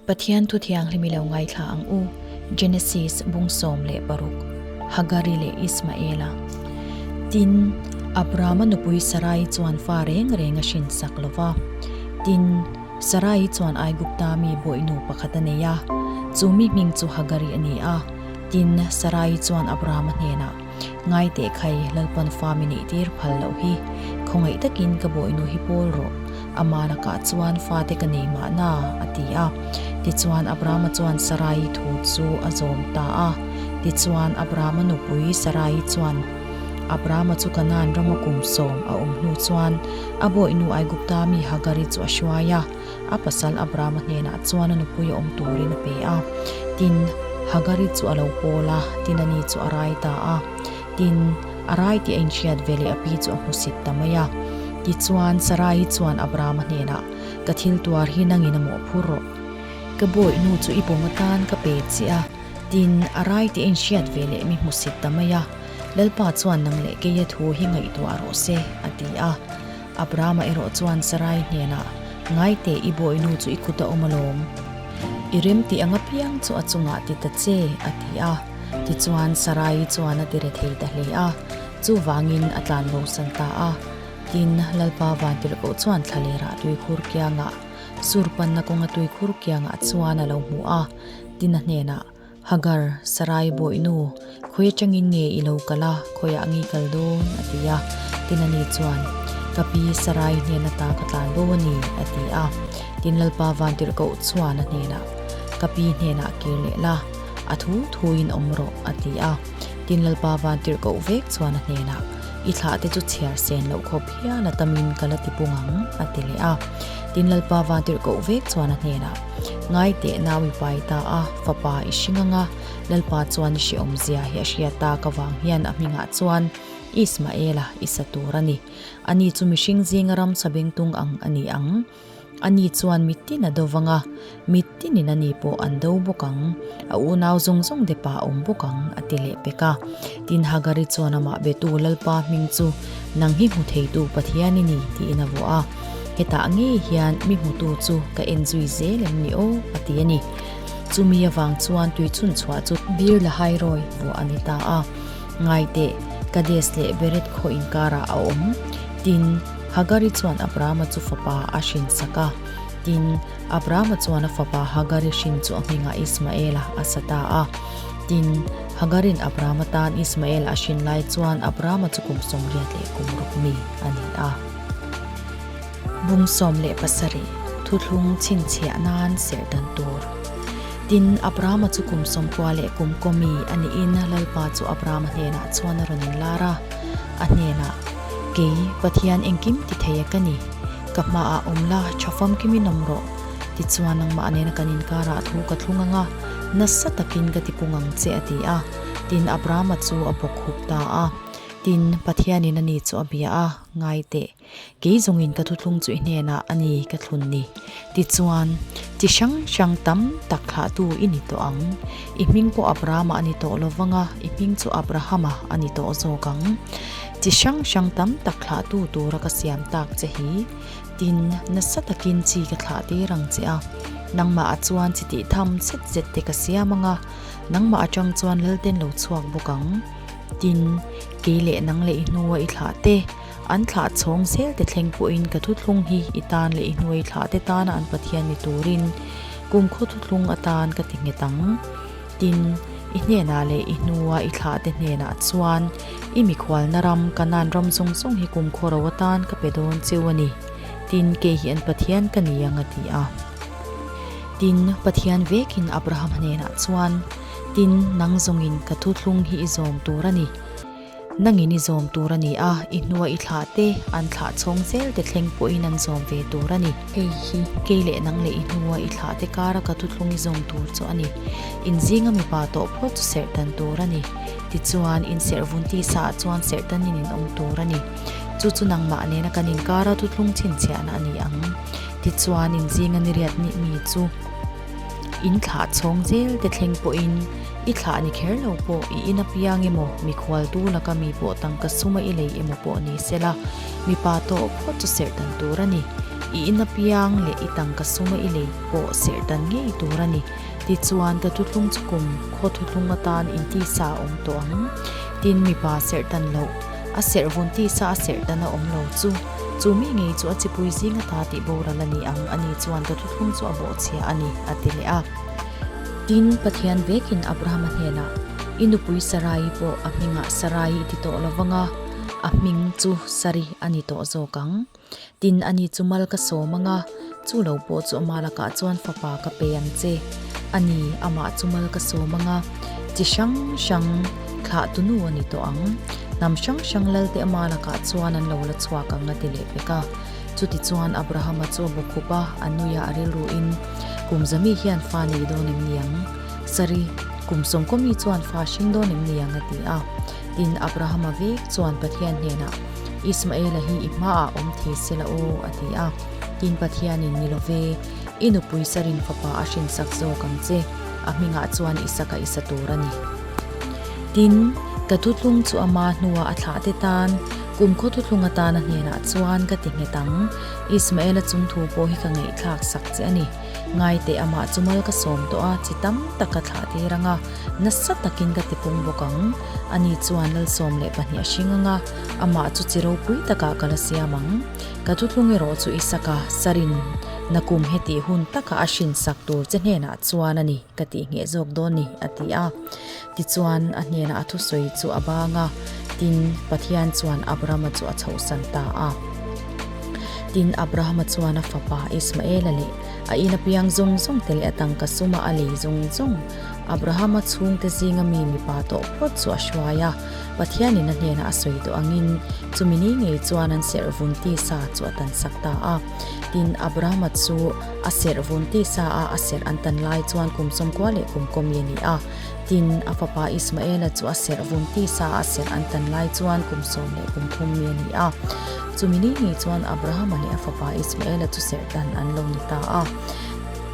Pathian Thu Thianghlim i lo ngaithla ang u, Genesis bung sawm leh paruk, Hagari leh Ismaela. Tin, Abrahama nupui Sarai chuan fa reng reng a hrin sak lo va. Tin, Sarai chuan Aigupta mi bawi nu pakhat a nei a, chu mi hming chu Hagari a ni a. Tin, Sarai chuan Abrahama hnenah. Ngai teh khai Lalpan fam i neih tir phal loh hi. Khawngaih takin ka bawihnu hi pawl rawh. Amah lakah chuan fate ka nei mahna, a ti a. Tichuan Abrahama chuan Sarai-i thu chu a zawm ta a. Tichuan Abrahama nupui Sarai-i chuan, Abrahama chu Kanaan rama kum sawm a awm hnu chuan a bawihnu Aigupta mi Hagar-i chu a hruai a. A pasal Abrahama hnenah chuan a nupui a awm turin a pe a. Tin, Hagari chu a lo pawl a, tin, ani chu a rai ta a. Tin, a rai tih a inhriat ve leh a pi chu a hmusit ta mai a. Tichuan, Sarai chuan Abrahama hnenah, Ka thil tuar hi nangin a mawh phur rawh. Ka bawihnu chu i pawm atan ka pe chiah a. Tin, a rai tih a inhriat ve leh mi hmusit ta mai a. Lalpa chuan nang leh keia thu hi ngaihtuah rawh se, a ti a. Abrahama erawh chuan Sarai hnenah, Ngaite, i bawihnu chu i kut a awm alawm. I rem tih a ngapiang chu a chungah ti ta che, a ti a. Tichuan Sarai chuan a ti re thei ta hle a, chuvangin a tlan lo san ta a. Tin, Lalpa Vanpilhkoh chuan thla leh rah tui khur kiangah, sur panna kawnga tui khur kiangah chuan a lo hmu a, tin a hnenah, Hagar, Sarai bawi nu, khawi atangin nge i lo kal a, khawiah a ngi kal dawn, a ti a. Tin a ni chuan, Ka pi Sarai hnen ata ka tlan lo a ni, a ti a. Tin Lalpa Vantirhko chuan a hnenah, Ka pi hnenah kir leh la, a thu thuin awm rawh, a ti a. Tin Lalpa Vantirhko vek chuan a hnenah, I thlah te chu chhiar sen loh khawp hial atamin ka la ti pung ang, a ti leh a. Tin Lalpa Vantirhko vek chuan a hnenah, Ngai teh nau i pai ta a, fapa i hri ngang a, Lalpa chuan i hre awm zia hi a hria ta, ka vang hian a hmingah chuan Ismael a i sa tur a ni. Ani chu mihring zinga ramsa bengtung ang a ni ang. Ani chuan mittin a do vang a, mittin in ani pawh an do bawk ang, a unau zawng zawng depa awm bawk ang a ti leh pek a. Tin Hagari chuan amah betu Lalpa hming chu nang hi hmu theitu Pathian i ni tiin a vuah a, hetah ngei hian mi hmutu chu ka en zui zel em ni aw a ti a ni. Chumi avang chuan tui chhun chhuah chu. Beer la hai rawi vuah a ni ta a, ngai teh Kades leh Bered khaw inkarah a awm. Tin Hagari chuan Abrahama chu fapa a hrinsak a, tin. Abrahama chuan a fapa Hagarin hrin chu a nghengah Ismaela a sa ta a. Tin, Hagarin Abrahama tan Ismaela a hrin lai chuan Abrahama chu kum sawmriat leh kum ruk mi a ni a. Bum sawm leh pasarih thuthlung chhinchhiah nan serhdan tur. Tin, Abrahama chu kum sawmkua leh kum kaw mi a niin Lalpa chu Abrahama hnenah chuan a rawn inlar a. A hnenah, Kei, Pathian engkim ti theia ka ni. Ka hma ah awm la, tha fam kim in awm rawh. Ti chuan nangmah nena kan inkar ah thu ka thlung anga, nasa takin ka ti pung ang che a ti a. Tin Abrahama chu a bawk hup ta a. Tin, Pathian in a ni chu a bia a, ngai teh. Kei zawng in ka thuthlung chu i hnen ah a ni ka thlun ni. Ti chuan, Chi hrang hrang tam tak thlah tu i ni tawh ang. I hming pawh Abrahama a ni tawh lo vang a, i hming chu Abrahama a ni tawh zawk ang. Chi hrang hrang tam tak thlahtu tura ka siam tak che hi, tin nasa takin chi ka thlah tir ang che a, nangmah a chuan chi tih tham chhet zet te ka siam anga, nangmah atang chuan lal ten lo chhuak bawk ang, tin kei leh nang leh i hnua i thlah te, an thlah chhawng zel te thleng pawhin ka thuthlung hi i tan leh i hnua i thlah te tana an Pathian ni turin kum khaw thuthlung atan ka ti nghet ang. Tin, i hnenah leh i hnua i thlahte hnenah chuan i mikhualna ram, ka nan ram zawng zawng hi kumkhua ro atan ka pe dawn cheu a ni. Tin, kei hian Pathian ka ni ang a ti a. Tin, Pathian vekin Abraham hnenah chuan, Tin, nang zawngin ka thu thlung hi i zawm tur a ni. Nangin i zawm tur a ni a, i hnua i thlah te, an thlah chhawng zel te thleng pawhin an zawm ve tur a ni. Hei hi kei leh nang leh i hnua i thlah te kara ka thutthlung i zawm tur chu a ni. Inzinga mipa tawh phawt chu serh dan tur a ni. Tichuan, inserh vun tisaah chuan serh danin in awm tur a ni. Chu chu nangmah nena kan inkara thutthlung chhinchhiahna a ni ang. Tichuan, inzinga niriat nihmi chu. In thlah chhawng zel te thleng pawhin i thlah ni kher lo pawh i in apiang emaw mikhualtu laka mi pawh tangka suma i lei emaw pawh ni sela mipa tawh phawt chu serhdan tur a ni. I in apiang leh i tangka suma i lei pawh serhdan ngei tur a ni. Tichuan ka thutlung chu kum khaw thutlung atan in tisa a awm tawh ang. Tin mipa serhdan loh a serh vun tisa a serhdan a awm lo chu. Chu mi ngei chu a chipui zing a ta tih boral a ni ang, a ni chuan ka thuthung chu a bawhchhiah a ni, a ti leh a. Tin, Pathian vekin Abrahama hnenah, I nupui Sarai pawh a hmingah Sarai i ti tawh lo vang a, a hming chu Sari a ni tawh zawk ang. Tin, a ni chu mal ka sawm ang a. Chu lo pawh chu amah lakah chuan fapa ka pe ang che a ni, amah chu mal ka sawm ang a, chi hrang hrang thlah tu nu a ni tawh ang. Hnam hrang hrang lal te amah lakah chuan an lo la chhuak ang a ti leh vek a. Chuti chuan Abrahama chu a bu khup a, a nuiah a rilru in, Kum za mi hian fa nei dawn em ni ang? Sorry, kum sawmkawmi chuan fa hring dawn em ni ang? a ti a. Tin, Abrahama vek chuan Pathian hnenah, Ismaela hi i hmaah awm thei se la aw, a ti a. Tin, Pathianin, Ni love, i nupui Sarin fapa a hrinsak zawk ang che, a hmingah chuan Isaka i sa tur a ni. Tin, ka thutlung chu ama hnuah a thlah te tan, kum khaw thutlung atana hnenah chuan ka ti nghet ang, Ismaela chungthu pawh hi ka ngeihthlak sak che a ni. Ngaite amah chu mal ka sawm tawh a, chi tam tak ka thlah tir ang a, nasa takin ka ti pung bawk ang. Ani chuan lalsawm leh pahnih a hring anga, amah chu chi ropui takah ka la siam ang. Ka thuthung erawh chu i sak a, Sarin, na kum hi tih hun takah a hrinsak tur che hnenah chuan a ni, ka tih ngheh zawk dawn ni, a ti a. Tichuan a hnenah a thusawi chu a bang a, tin, Pathian chuan Abrahama chu a chhohsan ta a. Tin, Abrahama chuan a fapa Ismaela leh a in apiang zawng zawngte leh a tangka suma a lei zawng zawng, Abrahama chhungte zinga mi mipa tawh phawt chu a hruai a. Pathian in a hnenah a sawi duh angin, chumi ni ngei chuan an serhvun tisa chu a tansak ta a. Tin, Abrahama chu a serhvun tisa a a serh an tan lai chuan kum sawmkua leh kum kawmi a ni a. Tin, a fapa Ismaela chu a serh vun tisa a serh an tan lai chuan kum sawm leh kum thum mi a ni a. Chumi ni ngei chuan Abrahama leh a fapa Ismaela chu serh tan an lo ni ta a.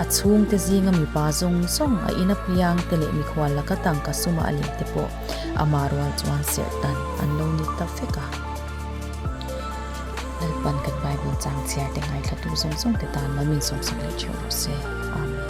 A chhungte zinga mipa zawng zawng, a in apiangte leh mikhual laka tangka suma a lehte pawh amah rual chuan serh tan an lo ni ta vek a. Lalpan kan Bible changchhiarte ngaihthlatu zawng zawngte tan mamin sawmsak leh ṭheuh rawh se. Amen.